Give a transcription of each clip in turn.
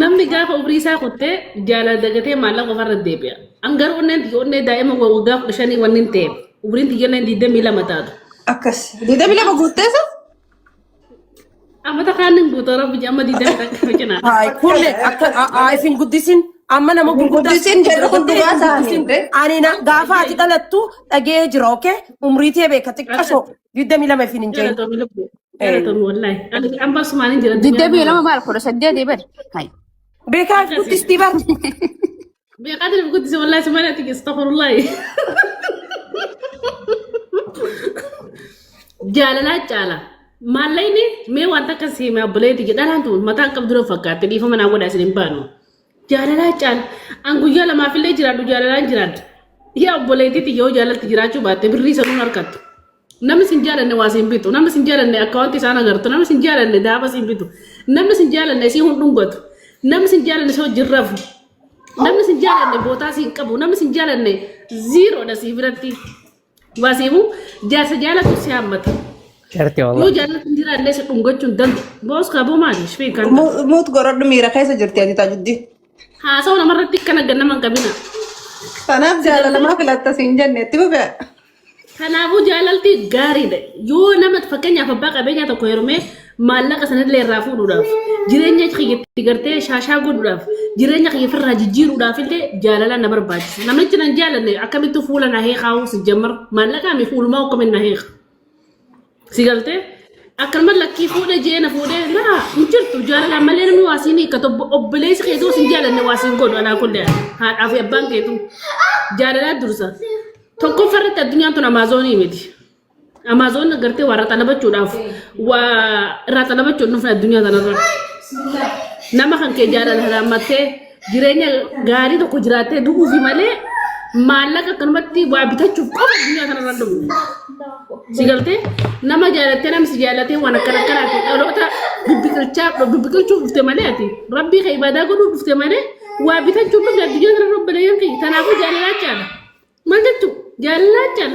Namni gaafa umrii isaa kuttee jaalala dagatee maallaqa ofarra deebi'a. An garuu onneen tiyya onnee daa'ima waggaa kudha shanii waan hin ta'eef umriin tiyya onneen digdamii lama taatu. Akkas. Deebii lama guutteessa? Amata kaan hin guutuu rabbi amma digdamii takka nu cinaa. Haay kulle akka haayif hin guddisin amma nama gurguddaa Guddisin jedhu kun dhugaa isaanii. Ani na gaafa ati dhalattu dhagee jira okay umrii tee beeka xiqqasho digdamii lama ifiin hin jahin Galatoomi lubbu. Galatoomi wallaahi. Ani amma sumaan hin jira. addunyaa Digdamii irra lama maal kudha saddeet eebar. Hai. beekaa Akkasii. guddistii bar Beekaa diriif guddise wallaahi sumaan ati astaghfirullaahi. Jaalalaa caala. Maallayni mee wanta akka siime abboleetti jedhalaan tu mataan qabdu dura fakkaatte dhiifama naa godhaa isin hin baanu. Jaalalaa caal an guyyaa lamaaf illee jiraadhu jaalalaan jiraadha. Yaa obboleettii tiyya yoo jaalalti jiraachuu baatte birrii sanuun harkattu. Namni sin jaalanne waa siin bitu. Namni sin jaalanne akkaawwanti isaan agartu. Namni sin jaalanne daaba siin bitu. Namni sin jaalanne isii hin dhungatu. Namni sin jaalanne si wajjin rafu. Namni sin jaalanne bootaa siin qabu. Namni sin jaalanne ziiroodha sii biratti. Dhugaa seemuu jaarsa jaalatu si hammata. Jarti Yoo wallah. jaalatu hin jiraanne si dhungachuun dandu. Boos kaaboo maali? Shifee kan Mu- Muut gorodhu miira keessa jirti ati taajuddi. haasa'u namarratti akka nagga nama hin qabina. Kanaaf jaalalamaa filatta siin jenne itti fufe. Kanaafuu jaalalti gaariidha. Yoo nama fakkeenyaaf abbaa qabeenyaa tokko heerumee maallaqa sanallee irraa fuudhuudhaaf jireenya kiyya itti gartee shaashaa godhuudhaaf jireenya kiyya ofirraa jijjiiruudhaaf illee jaalala na barbaachisa namichi nan jaalanne akkamittuu fuula na heekaa'uu si jammar maallaqaa mi fuulumaa akkamin na heeka si galtee akkanuma lakkii fuudhe jee na fuudhe laa hin jirtu jaalalaan malee namni waa siin hiikkatu Obbo- obboleessi kee osoo sin jaalanne waa siin godhu alaa kullee haadhaa fi abbaan keetu jaalalaa dursa tokkoffaa irratti addunyaan tun amaazoonii miti. Amaazoon gartee warra xalabachuudhaaf waa irraa xalabachuun dhufne addunyaa kanarra. Nama kan kee jaalala halaammattee jireenya gaarii tokko jiraattee du'uufi malee maallaqa akkanumatti waa bitachuuf qofa addunyaa kanarra hin dhufne. Si galtee nama jaalattee nama si jaalatee waan akkana akkanaati dhaloota bibbiqilchaa bibbiqilchuuf dhufte malee ati rabbii kee ibaadaa godhuuf dhufte malee waa bitachuuf dhufte addunyaa kanarra obboleeyyan kee kanaafuu jaalalaa caala. Maal jechuu? Jaallaachaan.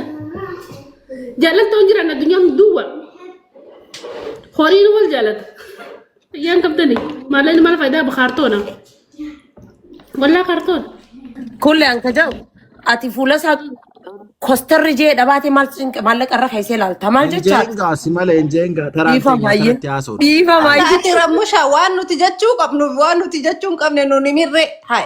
Jaallattoon jiran addunyaan duwwa. Horiin wal jaallata. Ayyaan qabdani. Maalleen maal faayidaa ba kaartoona? Wallaa kaartoona. Kulle an ka jedhu ati fuula isaa kostarri jee dhabaate maal cinqe maallaqa irra keessee ilaalta maal jechaa? Injeen gaasi malee injeen gaa taraan Dhiifa keenya baay'ee. kanatti haasa'u. Dhiifa baay'ee. Ati Ramusha waan nuti jechuu qabnu waan nuti jechuu hin qabne nuni mirre. Hai.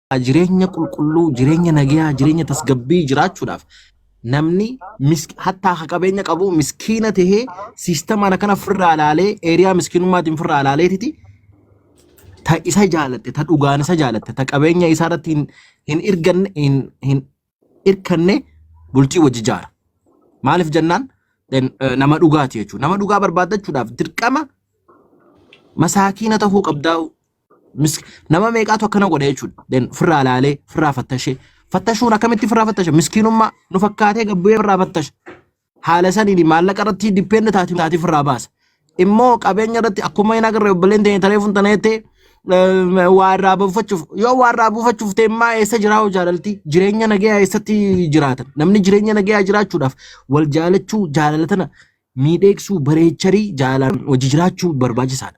jireenya qulqulluu, jireenya nagayaa, jireenya tasgabbii jiraachuudhaaf namni misk- hattaa ka qabeenya qabu miskiina tahee siistamaan akkana firraa ilaalee eeriyaa miskiinummaatiin firraa ilaaleetiti ta isa jaalatte, ta dhugaan isa jaalatte, ta qabeenya isaa irratti hin, hin irganne, hin, hin, irkannee bultii wajji jaara. Maaliif jennaan then, eh, nama dhugaati jechuudha. Nama dhugaa barbaaddachuudhaaf dirqama masaakiina tahuu qabdaa. Mis- Nama meeqaatu akkana godha jechuudha. Then firraa laalee, firraa fattashee. Fattashuun akkamitti firraa fattasha? Miskiinummaa nu fakkaatee gabbu'ee firraa fattasha. haala saniin maallaqa irratti dippeenda taati taati ofirraa baasa. Immoo qabeenya irratti akkuma hin agarre obboleen ta'e taree fun tana jettee eh, waa irraa buufachuuf yoo waa irraa buufachuuf ta'e immaa eessa jiraa hoo jaalalti jireenya nagayaa eessatti jiraatan namni jireenya nagayaa jiraachuudhaaf wal jaalachuu jaalala tana miidheegsuu bareecharii jaalaan hojii jiraachuu barbaachisaadha.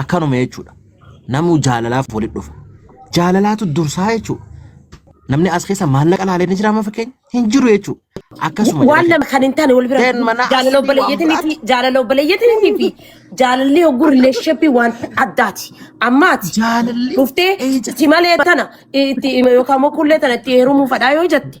Akkanuma jechuudha. Namuu jaalalaaf walitti dhufa. Jaalalaatu dursaa jechuudha. Namni as keessa maallaqa laalee ni jiraama fakkeenya hin jiru jechuudha. Akkasuma waan lama kan hin taane wal bira Then mana jaalala asii waan obboleeyyatiin fi jaalala obboleeyyatiin fi jaalalli hogguu rileeshippii waan addaati. Ammaati Jaalalli dhuftee eeja- si malee tana itti yookaan immoo kullee tana itti heerumuu fadhaa yoo jette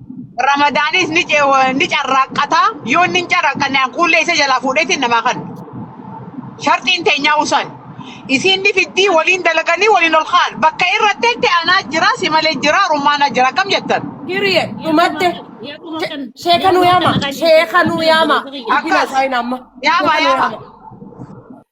Ramadaanis ni ce- ni carraaqqataa yoo inni hin carraaqqanne hanquullee isa jalaa fuudheetiin namaa kan sharxiin teenyaa usan isiin ni fiddii waliin dalaganii waliin ol kaan bakka irratti itti anaa jira si malee jira rummaanaa jira akkam jettan Period. Dhumatte. Sheeka nu yaama. Sheeka nu yaama. Itti Akkas. haasa'in amma. Yaama, Sheeka nu yaama. yaama.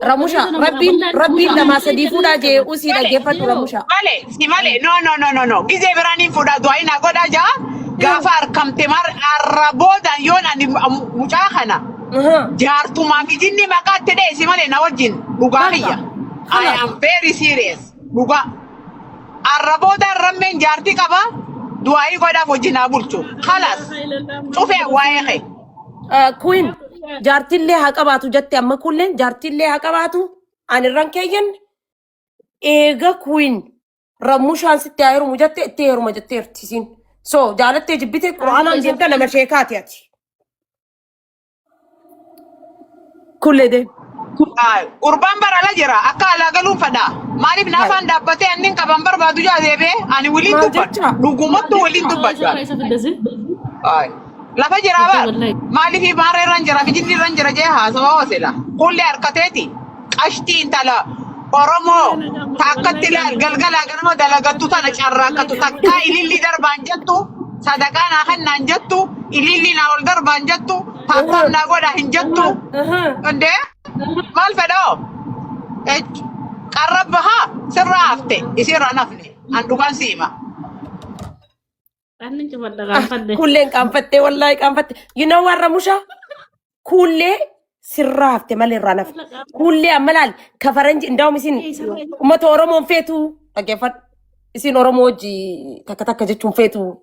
Ramusha, rabbiin rabbiin lamaa sadii fuudhaa jee usii dhaggeeffadhu Ramusha. Male, si male, no no no no no. Gizee biraan hin fuudhaa du'aayi naa godhaa jaa. Gaafa harkamte mar arra booda yoon ani mucaa kana jaartumaa fi jinni maqaa itti dheessi malee na wajjin dhugaa kiyya. I am very serious. Dhugaa. Arra booda rammeen jaartii qaba du'aayi godhaaf wajjin haa bulchu. Kalas. Cufee waa'ee kee. Kuwin jaartillee haa qabaatu jette amma kuulleen jaartillee haa qabaatu ani irraan keeyyan eega kuwin rammushaan sitti haa heerumu jette itti heeruma jetteerti isiin. So jaalattee jibbite quraanaan deemta nama sheekaati ati. Kulle deem. Ah, Gurbaan bara ala jira akka alaa galuun fadhaa maaliif naafaan dhaabbatee annin qaban barbaadu jaa deebee ani waliin Maal dubbadha jecha? dhugumattu waliin dubbadha. Ay, lafa jira Lafa bar wallahi. maaliif ibaara irraan jira fijinni irraan jira jee haasawa hoosela kulle harkateeti qashtii intala oromoo takkatti laal galgalaa ganama dalagattu tana carraakkatu takkaa ilillii darbaan jettu sadaqaa naa kennaan jettu ilillii naa ol darbaan jettu Taaptaap naa godhaa hin jettu. Hundee maal fedhoo? Ech, Qarra bahaa sirraa hafte isiirraa nafne. An dhugaan si hima. Anni cumadha gaafadhe. Kuulleen qaanfattee wallaahi qaanfatte. You know warra musha kuullee sirraa hafte malee irraa nafe. Kuullee amma laal ka faranji indaa'um isin uummata Oromoon feetu dhaggeeffadhu. Isin Oromoo hojii takka takka jechuun feetu.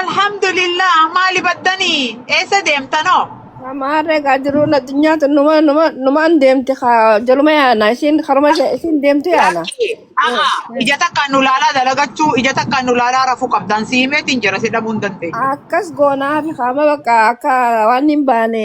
Alhamdulillah maali battanii eessa deemtanoo? Amaarree gaa jiruun addunyaa tun numa numa numaan deemti kaa jaluma yaana isiin karuma ishee isiin deemtu yaana. Lakki aha ija takkaan nu laalaa dalagachuu ija takkaan nu laalaa rafuu qabdaan si himeetiin jira si dhabuu hin dandeenye. Akkas goonaa fi kaama bakka akka waan hin baane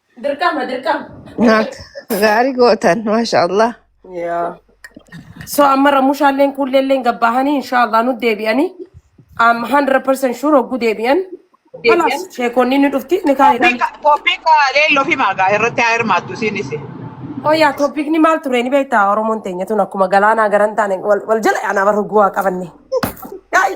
Dirqama dirqama. Naak gaarii gootan maasha Allah. Yaa. So amma ramushaalleen kuulleelleen gabbaahanii inshaallah nu deebi'anii. Am 100% sure hogguu deebi'an. Kalaas sheekonni ni dhufti ni kaa'edhaan. Topiika topiika leelloo fi maagaa irratti haa hirmaattu isiinis. Oh yaa topiikni maal ture ni beektaa Oromoon teenya tun akkuma galaanaa garan taane wal wal jala yaanaa bar hogguu waa qabanne. Yaa'i.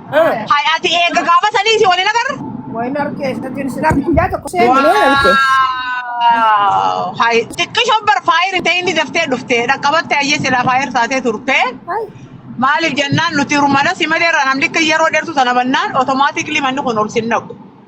Hay ati eega gaafa sanii si waliin agarra. Wayna arke sadin sinak ya to kuse Wow. mene arke. Hay xiqqisho bar faayir ta'e inni daftee dhufte dhaqqabatte ayyee silaa faayir taatee turte. Ay. Maaliif jennaan nuti rumala si malee irraa namni akka yeroo dheertu sana bannaan otomaatikli manni kun ol sin naqu.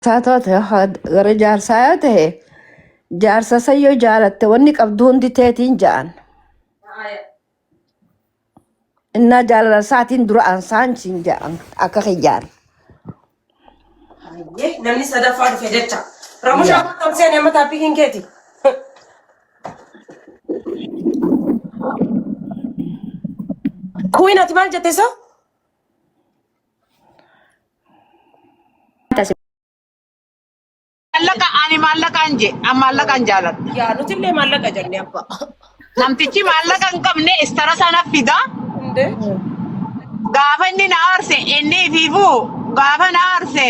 Isaa taate gara jaarsaa yoo ta'e jaarsa isa yoo jaalatte wanni qabdu hundi teetiin ja'an. Innaa jaalala isaatiin dura ansaan siin ja'an akka kiyyaan. Hayyee namni sadaffaa dhufe jecha. Ramushaa Yaa. akkam seene amma taappikiin keeti. Kuwiin ati maal jette so? Maallaqa ani maallaqaan je an maallaqaan jaaladha. Yaa nuti illee maallaqa jenne abbaa. Namtichi maallaqa hin qabne istara sana fida. Hundee. Gaafa inni na aarse inni ifiifuu gaafa na aarse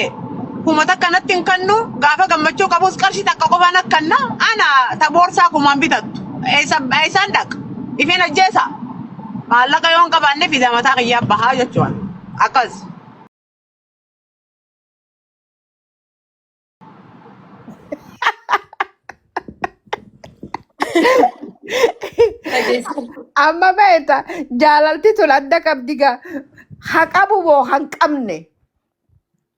kuma takka natti hin kennu gaafa gammachuu qabus qarshii takka qofa na kenna ana ta boorsaa kumaan bitattu eessa- eessaan dhaqa ifeen ajjeesa. Maallaqa yoon qabaanne viizaa mataa kiyyaa bahaa jechuudha. Akkas. Amma beekta jaalalti tun adda qabdi gaa. Ha qabu moo han qabne.